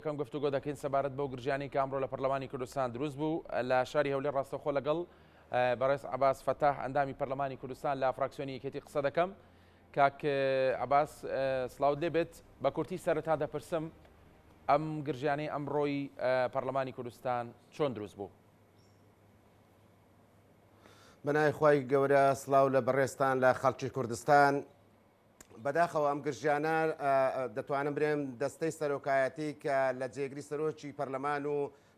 کەم گفتوگۆ دەکەین سەبارەت بەو گرژیانەی کە ئەمڕۆ لە پەرلەمانی کوردستان دروست بوو لە شاری هەولێر ڕاستەوخۆ لەگەڵ بەڕێز عباس فەتاح ئەندامی پەرلەمانی کوردستان لە فراکسیۆنی یەکێتی قسە دەکەم کاک عباس سلااوت لێ بێت بە کورتی سەرتا دەپرسم ئەم گرژیانەی ئەمڕۆی پەرلەمانی کوردستان چۆن دروست بوو بەنای خی گەورە سلااو لە بەڕێستان لە خەڵکی کوردستان بەداخەوە ئەم گرژیانە دەتوانم برێم دەستەی سەرۆکایەتی کە لە جێگری سەرۆکی پەرلەمان و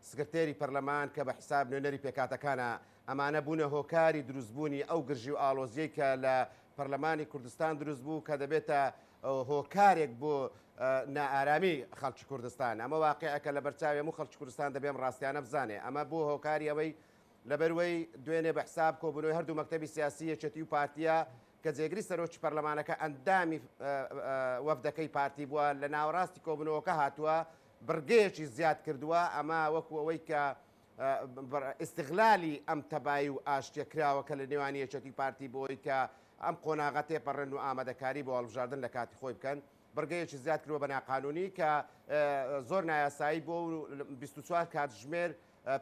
سکرتێری پەرلەمان کە بە حساب نوێنەری پێکاتەکانە ئەمانە بوونە هۆکاری دروستبوونی ئەو گرژی و ئالۆزیەی کە لە پەرلەمانی کوردستان دروست بوو کە دەبێتە هۆکارێک بۆ نائارامی خەڵکی کوردستان ئەمە واقعەکە لە بەرچاوێ و خەڵکی کوردستان دەبێم ڕاستیانە بزانێ ئەمە بۆ هۆکاری ئەوەی لەبەروەی دوێنێ بە حساب کۆبنەوەی هەردوو مەکتتەبی سیاسی یەکێتی و پارتیە کە جێگری سەرۆکی پەرلەمانەکە ئەندامی وەفدەکەی پارتی بووە، لە ناوەڕاستی کۆبوونەوەکە هاتووە، بڕگەیەکی زیاد کردووە، ئەمە وەکو ئەوەی کە ئیستغلالی ئەم تەبایی و ئاشتیە کراوەکە لە نێوان یەکێتی و پارتی بۆی کە ئەم قۆناغە تێپەڕێن و ئامادەکاری بۆ هەڵبژاردن لە کاتی خۆی بکەن، بڕگەیەکی زیاد کردووە بە ناقانونی کە زۆر نایاسایی بووە و 24 کاتژمێر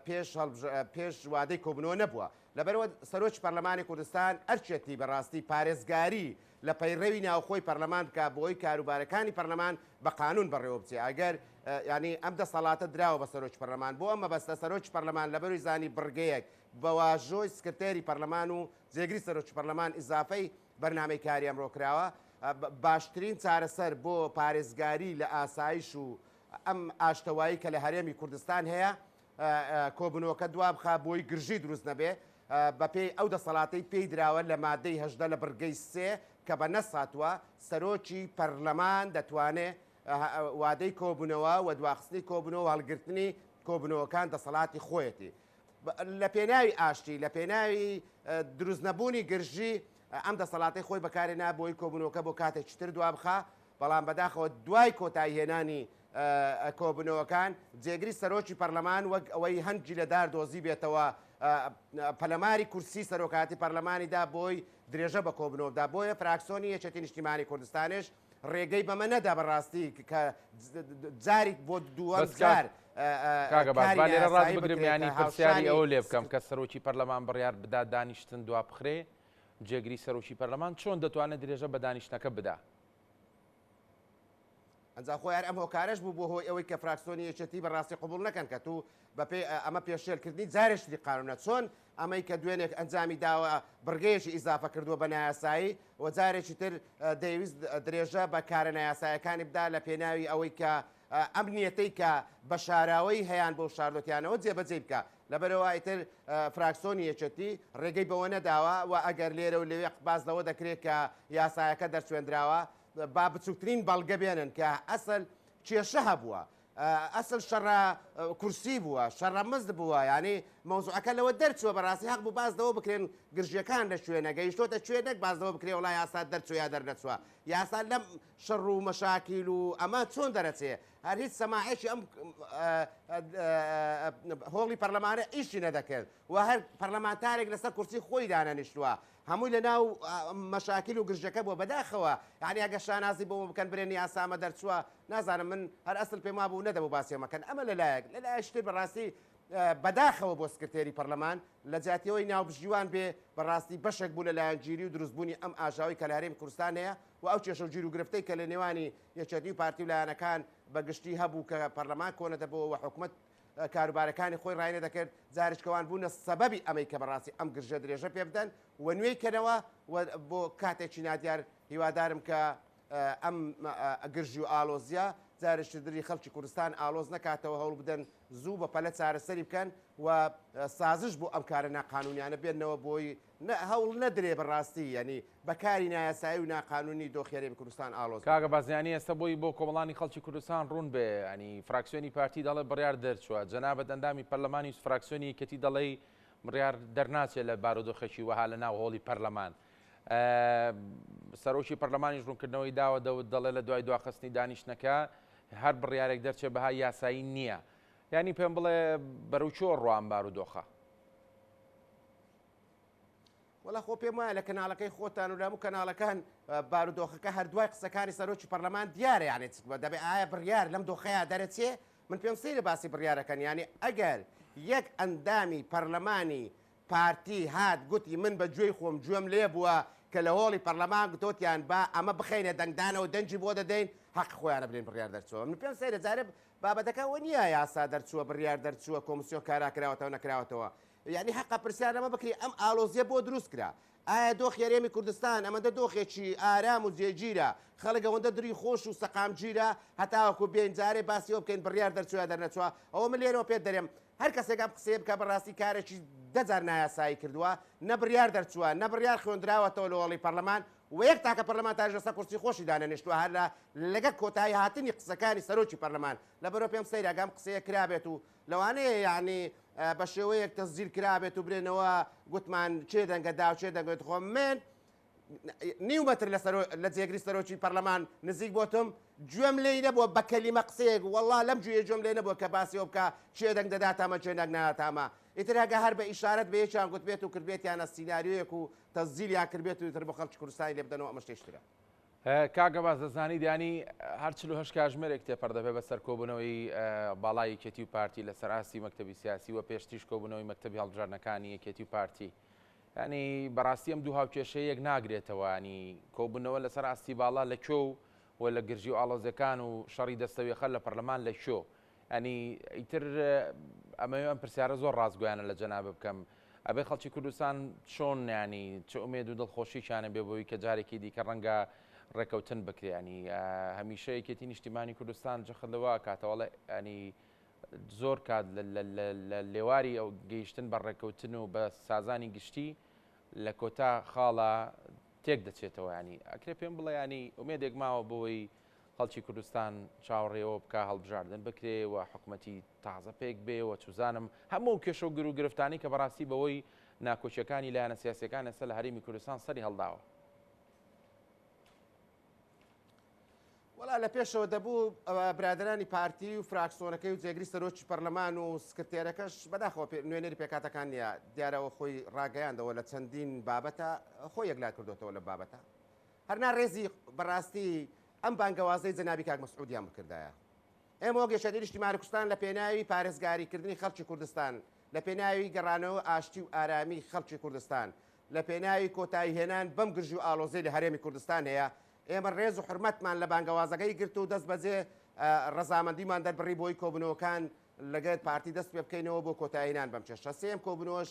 پێش هەڵبژ پێش وادەی کۆبنەوە نەبووە لەبەرەوە سەرۆکی پەرلەمانی کوردستان ئەرچێتی بەڕاستی پارێزگاری لە پەیڕەوی ناوخۆی پەرلەمان بکە بۆی کاروبارەکانی پەرلەمان بە قانون بەڕێوە بچێ ئەگەر ینی ئەم دەسەڵاتە دراوە بە سەرۆکی پەرلەمان بۆ ئەمە بەستە سەرۆکی پەرلەمان لەبەروی زانی بڕگەیەک بە واژۆی سکرتێری پەرلەمان و جێگری سەرۆکی پەرلەمان ئیزافەی بەرنمەی کاری ئەمڕۆ کراوە باشترین چارەسەر بۆ پارێزگاری لە ئاسایش و ئەم ئاشتەوایی کە لە هەرێمی کوردستان هەیە کۆبنەوەکە دوابخا بۆی گرژی دروست نەبێ بەپێی ئەو دەسەڵاتەی پێی دراوە لە مادەی هەژدە لە بڕگەی سێ کە بە نەساتوە سەرۆکی پەرلەمان دەتوانێ وادەی کۆبوونەوە و دواخستنی کۆبنەوە و هەڵگرتنی کۆبنەوەکان دەسەڵاتی خۆیەتی لە پێناوی ئاشتی لە پێناوی دروستنەبوونی گرژی ئەم دەسەڵاتی خۆی بەکارێ نابۆی کۆبنەوەکە بۆ کاتێک چتر دوابخە بەڵام بەداخەوە دوای کۆتایی هێنانی کۆبوونەوەکان جێگری سەرۆکی پەرلەمان وەک ئەوەی هەنگی لە دار دۆزی بێتەوە پەلەماری کورسی سەرۆکاتی پەرلەمانیدا بۆی درێژە بە کۆبنەوەدا بۆیە فراکسۆنی یەکێتی نیشتیمانی کوردستانش ڕێگەی بەمە نەدا بەڕاستی کە جاری بۆ دووەم جار لێرە ڕاست بگرمیانی پرسیاری ئەو لێ بکەم کە سەرۆکی پەرلەمان بڕیار بدا دانیشتن دوا بخرێ جێگری سەرۆکی پەرلەمان چۆن دەتوانێت درێژە بە دانیشتەکە بدا ئەنجا خۆی هەر ئەم هۆکارەش بوو بۆ هۆی ئەوەی کە فراکسۆنی یەکێتی بە ڕاستی قبول نەکەن کە تو بە پێی ئەمە پێشێلکردنی جارێ شتی قانونە چۆن ئەمەی کە دوێنێک ئەنجامی داوە بڕگەیەکی ئیزافە کردووە بە نایاسایی و جارێکی تر دەیویست درێژە بە کارە نایاسایەکانی بدا لە پێناوی ئەوەی کە ئەم نیەتەی کە بە شاراوەی هەیان بۆ شاردۆتیانەوە جێبەجێی بکە لەبەرئەوای تر فراکسۆنی یەکێتی رێگەی بەوەنەداوە و ئەگەر لێرەو لەوێ قباس لەوە دەکرێت کە یاسایەکە دەرچوێندراوە با بچوکترین بەڵگە بێنن کە ئەسل کێشە هەبووە ئەسل شەڕە کورسی بووە شەڕە مزد بووە ینی مەوزوعەکە لەوە دەرچووە بەڕاستی هەق بوو باز لەوە بکرێن گرژیەکان لە شوێنە گەیشتۆتە شوێنێک باز لەوە بکرێ وڵای یاسا دەرچوو یا دەرنەچووە یاسا لەم شەڕ و مەشاکیل و ئەمە چۆن دەرەچێ هەر هیچ سەماعێکی ئەم هۆڵی پەرلەمانە ئیشی نەدەکرد و هەر پەرلەمانتارێک لەسەر کورسی خۆی دانەنیشتووە هەمووی لە ناو مەشاکیل و گرژەکە بۆ بەداخەوە یعنی ئەگە شانازی بۆ بکەن برێنی یاسامە دەرچووە نازانم من هەر ئەسل پێما بوو نەدەبوو باسیەمەکەن ئەمە لەلایەک لەلایشتر بەڕاستی بەداخەوە بۆ سکرتێری پەرلەمان لە جاتیەوەی ناوبژیوان بێ بەڕاستی بەشێک بوو لە لایەنگیری و دروستبوونی ئەم ئاژاوی کە لە هەرێم کوردستان هەیە و ئەو کێشە و گیروگرفتەی کە لە نێوانی یەکێتی و پارتی و لایەنەکان بە گشتی هەبوو کە پەرلەمان کۆنە دەبۆوە و حکومەت کاروبارەکانی خۆی ڕای نەدەکرد جاریشکەوان بوونە سەبەبی ئەمەی کە بەڕاستی ئەم گرژە درێژە پێ بدەن و نوێی کەنەوە و بۆ کاتێکی نادیار هیوادارم کە ئەم گرژی و ئالۆزیە جارشت دری خەڵکی کوردستان ئالۆز نەکاتەوە هەوڵ بدەن زوو بە پەلە چارەسەری بکەن و سازش بۆ ئەم کارە ناقانونیانە بێنەوە بۆی نە هەوڵ نەدرێ بە ڕاستی یەنی بە کاری نایاسایی و ناقانونی دۆخی هەرێمی کوردستان ئاڵۆز بێ. کاکە بازیانی ئێستە بۆی بۆ کۆمەڵانی خەڵکی کوردستان ڕوون بێ یەنی فراکسیۆنی پارتی دەڵێ بڕیار دەرچوە جەنابت ئەندامی پەرلەمانی و فراکسیۆنی یەکێتی دەڵێی بڕیار دەرناچێ لە بارودۆخێکی وەها لە ناو هۆڵی پەرلەمان سەرۆکی پەرلەمانیش ڕوونکردنەوەی داوە دەوت دەڵێ لە دوای دواخستنی دانیشتنەکە هەر بڕیارێک دەرچێ بەها یاسایی نییە یانی پێم بڵێ بەرەو چۆ ڕوان بارودۆخە؟ وەڵا خۆ پێم وایە لە کەناڵەکەی خۆتان و لە هەموو کەناڵەکان بارودۆخەکە هەردوای قسەکانی سەرۆکی پەرلەمان دیارە یانێت دەبێ ئایا بڕیار لەم دۆخەیە دەرەچێ من پێم سەیرە باسی بڕیارەکەن ینی ئەگەر یەک ئەندامی پەرلەمانی پارتی هات گوتی من بە گوێی خۆم گوێم لێ بووە کە لە هۆڵی پەرلەمان گوتۆتیان با ئەمە بخینە دەنگدانەوە دەنگی بۆ دەدەین حەق خۆیانە بلین بڕیار دەرچوە من پێم سەیرە جارب بابەتەکە وە نییە یاسا دەرچووە بڕیار دەرچووە کۆمسیۆن کاراکراوەتەوە نەکراوەتەوە یەعنی هەقە پرسیار لەمە بکرێ ئەم ئاڵۆزیە بۆ دروست کرا؟ ئایا دۆخی هەرێمی کوردستان ئەمەندە دۆخێکی ئارام و جێگیرە، خەڵک ئەوەندە دری خۆش و سەقامگیرە هەتاوەکو بێین جارێ باسی ئەوە بکەین بڕیار دەرچوو یا دەرنەچووە؟ ئەوە من لێرەوە پێت دەرێم هەر کەسێک ئەم قسەیە بکا بەڕاستی کارێکی دە جار نایاسایی کردووە، نە بڕیار دەرچووە، نە بڕیار خوێندراوەتەوە لە هۆڵی پەرلەمان و یەک تاکە پەرلەمانتاریش لەسەر کورسی خۆشی دانەنیشتووە هەر لە لەگەڵ کۆتاییهاتنی قسەکانی سەرۆکی پەرلەمان، لەبەرئەوە پێم سەیرە گەر ئەم قسەیە کرابێت و لەوانەیە یانی بە شێوەیەک تەزجیل کرابێت و برێنەوە گوتمان چێ دەنگە داو چێ دەگوێت خۆم من نیو مەتر لە جێگری سەرۆکی پەرلەمان نزیک بۆتم گوێم لێی نەبووە بە کەلیمە قسەیەک وەڵا لەم جوێ گوێم لێ نەبووە کە باسیەوە بکە چێ دەنگ دەداتامە چێ نەک ناتامە ئیتر هەگە هەر بە ئیشارەت بەیەکیان گوتبێت و کردبێتیانە سینناریویەک و تەزیلیان کردبێت و تر بە خەڵکی کوردستانی لێ بدەنەوە ئەمە شتێشترە کاک عەباس دەزانی دانی هەر چل و هەشت کاژمێرێک تێپەر دەبێت بەسەر کۆبوونەوەی باڵای یەکێتی و پارتی لەسەر ئاستی مەکتەبی سیاسی و پێشتریش کۆبوونەوەی مەکتەبی هەڵبژاردنەکانی یەکێتی و پارتی ینی بەڕاستی ئەم دوو هاوکێشەیەک ناگرێتەوەنی کۆبوونەوە لەسەر ئاستی باڵا لە کۆ و و لە گرژی و ئاڵۆزەکان و شەڕی دەستەوێخەر لە پەرلەمان لە شۆ یانی ئیتر ئەمەوێ ئەم پرسیارە زۆر ڕاستگۆیانە لە جەنابت بکەم ئەبێ خەڵکی کوردستان چۆن نیانی چ ئومێد و دڵخۆشیشانە بێ بۆی کە جارێکی دیکە ڕەنگە ڕێکەوتن بکرێنی هەمیشە یەکێتی نیشتیمانی کوردستان جەخت لەوە کاتەوەڵێ ئەنی زۆر کات لە لێواری ئەو گەیشتن بە ڕێکەوتن و بە سازانی گشتی لە کۆتا خاڵە تێک دەچێتەوە ینی ئەکرێ پێم بڵێ ینی ئومێدێک ماوە بۆی خەڵکی کوردستان چاوەڕێی ئەوە بکا هەڵبژاردن بکرێ و حکومەتی تازە پێک بێ و چوزانم هەموو ئەو کێشە و گر و گرفتانەی کە بەڕاستی بەوەی ناکۆکیەکانی لایەنە سیاسیەکان ئێستا لە هەرێمی کوردستان سەری هەڵداوە. وەڵا لە پێشەوە دەبوو برادەرانی پارتی و فراکسۆنەکەی و جێگری سەرۆکی پەرلەمان و سکرتێرەکەش بەداخەوە نوێنەری پێکاتەکان نیە دیارەوە خۆی ڕاگەیاندەوە لە چەندین بابەتە خۆی یەکلا کردوێتەوە لە بابەتە هەر نا ڕێزی بەڕاستی ئەم بانگەوازەی جەنابی کاک مەسعودیان بکردایە. ئێمە وەک یەکێتی نیشتیمانی کوردستان لە پێناوی پارێزگاری کردنی خەڵکی کوردستان، لە پێناوی گەڕانەوە ئاشتی و ئارامی خەڵکی کوردستان، لە پێناوی کۆتایی هێنان بەم گرژی و ئاڵۆزیەی لە هەرێمی کوردستان هەیە، ئێمە ڕێز و حورمەتمان لە بانگەوازەکەی گرت و دەست بەجێ ڕەزامەندیمان دەربڕی بۆی کۆبوونەوەکان لەگەر پارتی دەست پێ بکەینەوە بۆ کۆتایی هێنان بەم کێشە. سێیەم کۆبوونەوەش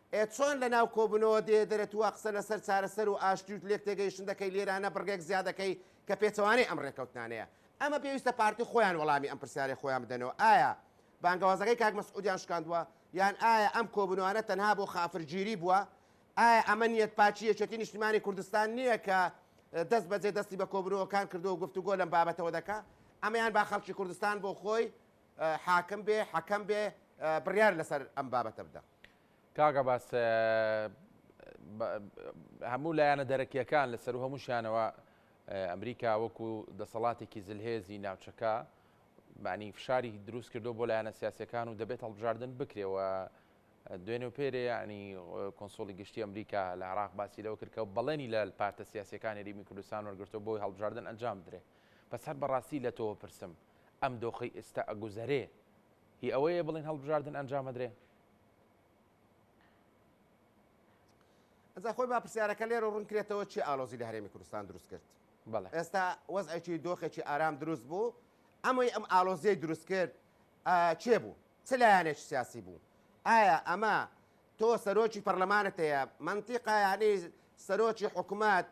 ئێ چۆن لە ناو کۆبونەوە دێیە دەرێت وا قسە لە سەر چارەسەر و ئاشتی و لێک تێگەیشتن دەکەی لێرانە بڕگەک زیا دەکەی کە پێچەوانەی ئەم ڕێکەوتنانەیە ئەمە پێویستە پارتی خۆیان وەڵامی ئەم پرسیارەی خۆیان بدەنەوە ئایا بانگەوازەکەی کاک مەسعودیان شکاندوە یان ئایا ئەم کۆبونەوانە تەنها بۆ خافر گیری بوە ئایا ئەمە نیەت پاکی یەکێتی نیشتیمانی کوردستان نیە کە دەست بەجێ دەستی بە کۆبونەوەکان کردو گفتوگۆ لەم بابەتەوە دەکا ئەمەیان با خەڵکی کوردستان بۆ خۆی حاکم بێ حەکەم بێ بڕیار لەسەر ئەم بابەتە بدە. کاک عباس هەموو لایەنە دەرەکیەکان لە سەرو هەموو شانەوە ئەمریکا وەکو دەسەڵاتێکی زلهێزی ناوچەکە بانی فشاری دروست کردو بۆ لایەنە سیاسەکان و دەبێت هەڵبژاردن بکرێەوە دوێن و پێرێ ینی کۆنسۆلی گشتی ئەمریکا لە عراق باسی لەوە کردکە و بەڵێنی لە پارتە سیاسەکانی ریمی کوردستان وەرگرتو بۆی هەڵبژاردن ئەنجام درێ بەسەر بەڕاستی لە تۆوە پرسم. ئەم دۆخەی ئێستا ئەگوزەرێ هی ئەوەیە بڵێن هەڵبژاردن ئەنجامەدرێ؟ ئەجا خۆی با پرسیارەکە لێرە ڕوون کرێتەوە چی ئالۆزی لە هەرێمی کوردستان دروست کرد؟ بەڵێ. ئێستا وەزعێکی دۆخێکی ئارام دروست بوو، ئەمەی ئەم ئالۆزیەی دروست کرد کێ بوو؟ چ لایەنێکی سیاسی بوو؟ ئایا ئەمە تۆ سەرۆکی پەرلەمانت هەیە، مەنتیقە یانی سەرۆکی حکومەت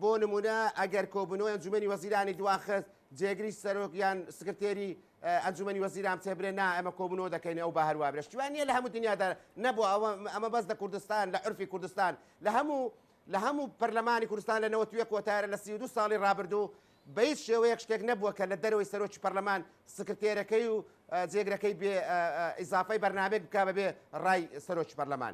بۆ نموونە ئەگەر کۆبوونەوەی ئەنجومەنی وەزیرانی دواخست جێگری سەرۆک یان سکرتێری ئەنجومەنی وەزیران بچێبرێ نا ئەمە کۆبوونەوە دەکەین ئەو بە هەروە برێ شتیوان نییە لە هەموو دنیادا نەبوو ئەوە ئەمە بەس لە کوردستان لە عرفی کوردستان لە هەموو لە هەموو پەرلەمانی کوردستان لە نەوەتوێ کۆتارە لە سی دو ساڵی ڕابردوو بە هیچ شێوەیەک شتێک نەبووە کە لە دەرەوەی سەرۆکی پەرلەمان سکرتێرەکەی و جێگرەکەی بێ ئیزافەی بەرنمێک بک بەبێ ڕای سەرۆکی پەرلەمان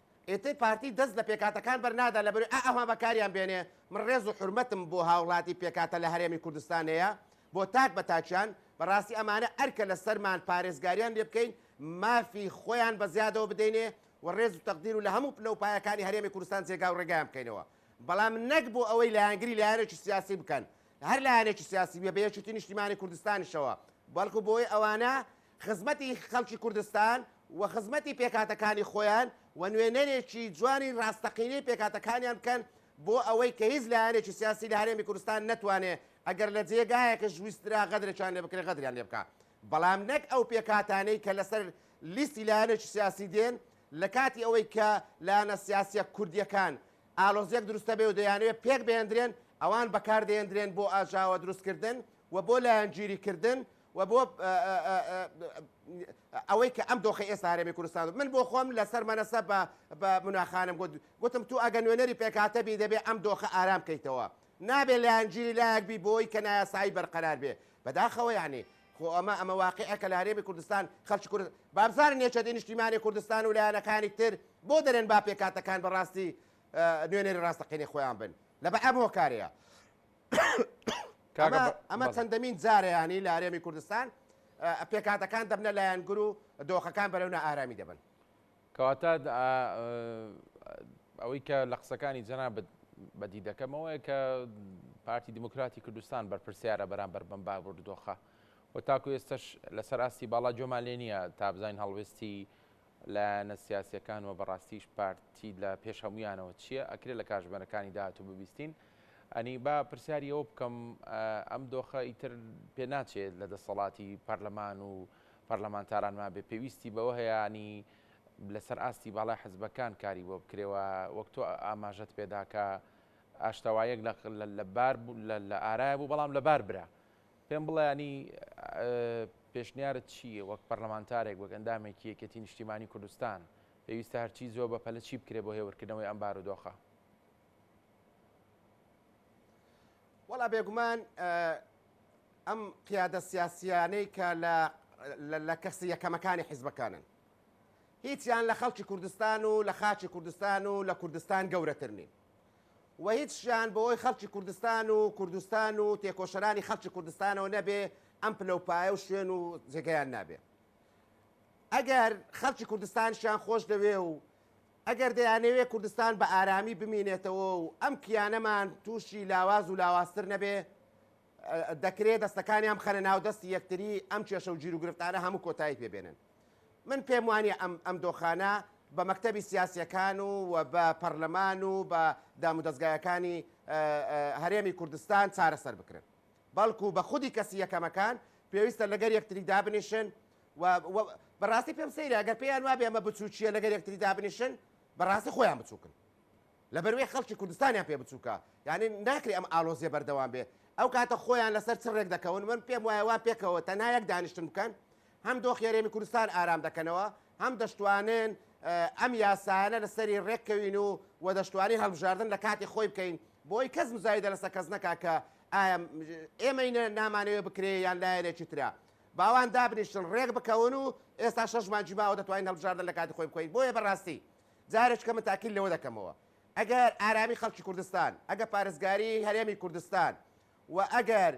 ئیتر پارتی دەست لە پێکهاتەکان بەرنادا لەبەروی ئا ئەوها بەکاریان بێنێ، من ڕێز و حورمەتم بۆ هاوڵاتی پێکهاتە لە هەرێمی کوردستان هەیە بۆ تاک بە تاکیان، بەڕاستی ئەمانە ئەرکە لە سەرمان پارێزگاریان لێ بکەین مافی خۆیان بە زیادەوە بدەینێ و ڕێز و تەقدیر و لە هەموو پلە و پایەکانی هەرێمی کوردستان جێگا و ڕێگایان بکەینەوە بەڵام نەک بۆ ئەوەی لایەنگری لایەنێکی سیاسی بکەن هەر لایەنێکی سیاسی بێ بە یەکێتی نیشتیمانی کوردستانیشەوە بەڵکو بۆی ئەوانە خزمەتی خەڵکی کوردستان و خزمەتی پێکهاتەکانی خۆیان و نوێنەرێکی جوانی راستەقینەی پێکهاتەکانیان بکەن بۆ ئەوەی کە هیچ لایەنێکی سیاسی لە هەرێمی کوردستان نەتوانێ ئەگەر لە جێگایەکش ویسترا غەدرێکیان لێ بکرێ غەدریان لێ بکا بەڵام نەک ئەو پێکهاتانەی کە لەسەر لیستی لایەنێکی سیاسی دێن لە کاتی ئەوەی کە لایەنە سیاسیە کوردیەکان ئالۆزیەک دروستە بێ و دەیانەوێ پێک بهێندرێن ئەوان بەکار دەێندرێن بۆ ئاژاوە دروستکردن و بۆ لایەنگیری کردن و بۆ ئەوەی کە ئەم دۆخی ئێستا هەرێمی کوردستان و من بۆ خۆم لەسەر مەنەسە بە بە مناخانم گوت گوتم تو ئەگە نوێنەری پێکهاتە بی دەبێ ئەم دۆخە ئارام بکەیتەوە نابێ لایەنگیری لایەک بی بۆی کە نایاسایی بەرقەرار بێ بەداخەوە یانی خۆ ئەمە ئەمە واقعە کە لە هەرێمی کوردستان خەڵکی کورد بابزانن نێچەدی نیشتیمانی کوردستان و لایەنەکانی تر بۆ دەرێن با پێکاتەکان بەڕاستی نوێنەری ڕاستەقینی خۆیان بن لە بە ئەم هۆکارەیە ئەمە چەندەمین جارەیانی لە هەرێمی کوردستان پێکاتەکان دەبنە لایەنگر و دۆخەکان بەرەو نائارامی دەبن کەواتە ئەوەی کە لە قسەکانی جەنابەت بەدی دەکەمەوەی کە پارتی دیموکراتی کوردستان بەرپرسیارە بەرامبەر بم بابور دۆخە و تاکو ئێستش لەسەر ئاستی باڵا جۆمان لێ نییە تابزین هەڵوێستی لایەنە سیاسیەکان و بەڕاستیش پارتی لە پێش هەموویانەوە چیە ئەکرێ لە کاژمێرەکانی داهاتوو ببیستین ئەنی با پرسیاری ئەوە بکەم ئەم دۆخە ئیتر پێ ناچێت لە دەسەڵاتی پەرلەمان و پەرلەمانتاران ما بێ پێویستی بەوە هەیەنی لەسەر ئاستی باڵای حزبەکان کاری بۆ بکرێەوە وەک تۆ ئاماژەت پێداکە ئاشتەوایەک لە لەبار لە ئارای بوو بەڵام لەبار برا پێم بڵێ یانی پێشنیارت چی یە وەک پەرلەمانتارێک وەک ئەندامێکی یەکێتی نیشتیمانی کوردستان پێویستە هەرچی زۆر بە پەلە چی بکرێ بۆ هێورکردنەوەی ئەم بارودۆخە؟ وەڵا بێگومان ئەم قیادە سیاسیانەی کە لە کەسی یەکەمەکانی حیزبەکانن هیچیان لە خەڵکی کوردستان و لە خاچی کوردستان و لە کوردستان گەورەتر نین و هیچیان بەوەی خەڵکی کوردستان و کوردستان و تێکۆشەرانی خەڵکی کوردستانەوە نەبێ ئەم پلە و پایە و شوێن و جێگەیان نابێ ئەگەر خەڵکی کوردستانشیان خۆش دەوێ و ئەگەر دەیانەوێ کوردستان بە ئارامی بمینێتەوە و ئەم کیانەمان تووشی لاواز و لاوازتر نەبێ دەکرێت دەستەکانیان بخەنە ناو دەستی یەکتری ئەم کێشە و گیروگرفتانە هەموو کۆتایی پێ بێنن من پێم وانە ئەم ئەم دۆخانە بە مەکتەبی سیاسەکان و و بە پەرلەمان و بە دامودەستگایەکانی هەرێمی کوردستان چارەسەر بکرن بەڵکو بە خودی کەسی یەکەمەکان پێویستە لەگەر یەکتری دابنیشن بەڕاستی پێم سەیرە گەر پێیان وابێ ئەمە بچووکیە لەگەر یەکتری دابنیشن بەڕاستی خۆیان بچووکن لەبەروەی خەڵکی کوردستانیان پێ بچوکە یانی ناکرێ ئەم ئالۆزیە بەردەوام بێ ئەو کاتە خۆیان لەسەر چ ڕێک دەکەون من پێم وایە وا پێکەوە تەنها یەک دانیشتن بکەن هەم دۆخی هەرێمی کوردستان ئارام دەکەنەوە هەم دەشتوانن ئەم یاسایانە لەسەری ڕێککەوین و و دەشتوانین هەڵبژاردن لە کاتی خۆی بکەین بۆی کەس مزایدە لەسە کەس نەکا کە ئایا ئێمەی نامانەوە بکرێ یان لایەنێکی تررا باوان دابنیشتن ڕێک بکەون و ئێستا شەش مانجی باوە دەتوانین هەڵبژاردن لە کاتی خۆی بکەین بۆیە بەڕاستی جارێککە من تاکید لەوە دەکەمەوە ئەگەر ئارامی خەڵکی کوردستان، ئەگەر پارێزگاری هەرێمی کوردستان و ئەگەر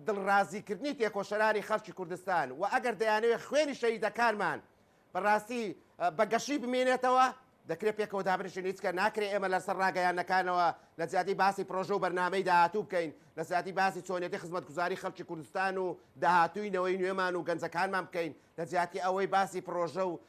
دڵڕازیکردنی تێکۆشەرانی خەڵکی کوردستان و ئەگەر دەیانەوێت خوێنی شەهیدەکانمان بەڕاستی بە گەشی بمێنێتەوە دەکرێت پێکەوە دابنیشین هیچکە ناکرێت ئێمە لەسەر ڕاگەیانەکانەوە لە زیادی باسی پرۆژە و بەرنمەی داهاتوو بکەین لە زیادی باسی چۆنیەتی خزمەتگوزاری خەڵکی کوردستان و داهاتووی نەوەی نوێمان و گەنجەکانمان بکەین لە جیاتی ئەوەی باسی پرۆژە و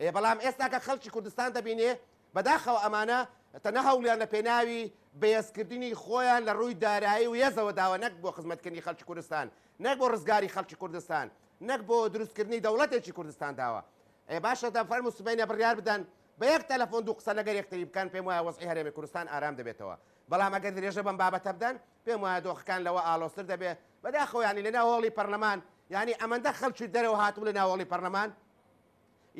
ئێ بەڵام ئێستا کە خەڵکی کوردستان دەبینێ بەداخەوە ئەمانە تەنها هەوڵیان لە پێناوی بەێز کردنی خۆیان لە ڕووی دارایی و یێزەوە داوە نەک بۆ خزمەت کردنی خەڵکی کوردستان نەک بۆ ڕزگاری خەڵکی کوردستان نەک بۆ دروست کردنی دەوڵەتێکی کوردستان داوە ئێ باشە دە فەرمو سبەینێ بڕیار بدەن بە یەک تەلەفۆن دوو قسە لەگەر یەکتری بکەن پێم وایە وەزعی هەرێمی کوردستان ئارام دەبێتەوە بەڵام ئەگەر درێژە بەم بابەتە بدەن پێم وایە دۆخەکان لەوە ئاڵۆزتر دەبێ بەداخەوە یانی لەناو هۆڵی پەرلەمان یانی ئەمەندە خەڵکی دەرەوە هاتبوو لە ناو هۆڵی پەرلەمان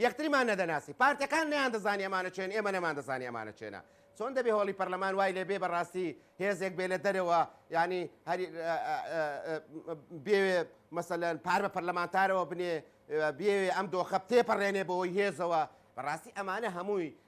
یەکتریمان نەدەناسی پارتەکان نەیان دەزانی ئەمانە چێن ئێمە نەمان دەزانی ئەمانە چێنە چۆن دەبێ هۆڵی پەرلەمان وای لێ بێ بەڕاستی هێزێک بێ لە دەرەوە ینی بێ مەسەلەن پار بە پەرلەمانتارەوە بنێ بێ ئەم دۆخە تێپەڕێنێ بۆی هێزەوە بەڕاستی ئەمانە هەمووی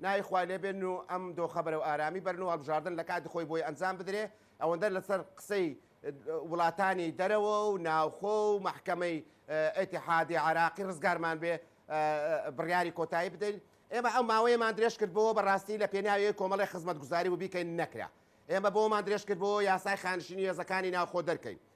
ناوی خوا لێ بێن و ئەم دۆخە بەرەو ئارامی بەرن و هەڵبژاردن لە کاتی خۆی بۆی ئەنجام بدرێ، ئەوەندە لەسەر قسەی وڵاتانی دەرەوە و ناوخۆ و مەحکەمەی ئیتیحادی عێراقی ڕزگارمان بێ بڕیاری کۆتایی بدەین. ئێمە ئەو ماوەیەمان درێژ کردبۆوە بە ڕاستی لە پێناوی کۆمەڵی خزمەتگوزاری و بیکەین نەکرا. ئێمە بۆمان درێژ کردبۆوە یاسای خانشینی هێزەکانی ناوخۆ دەرکەین.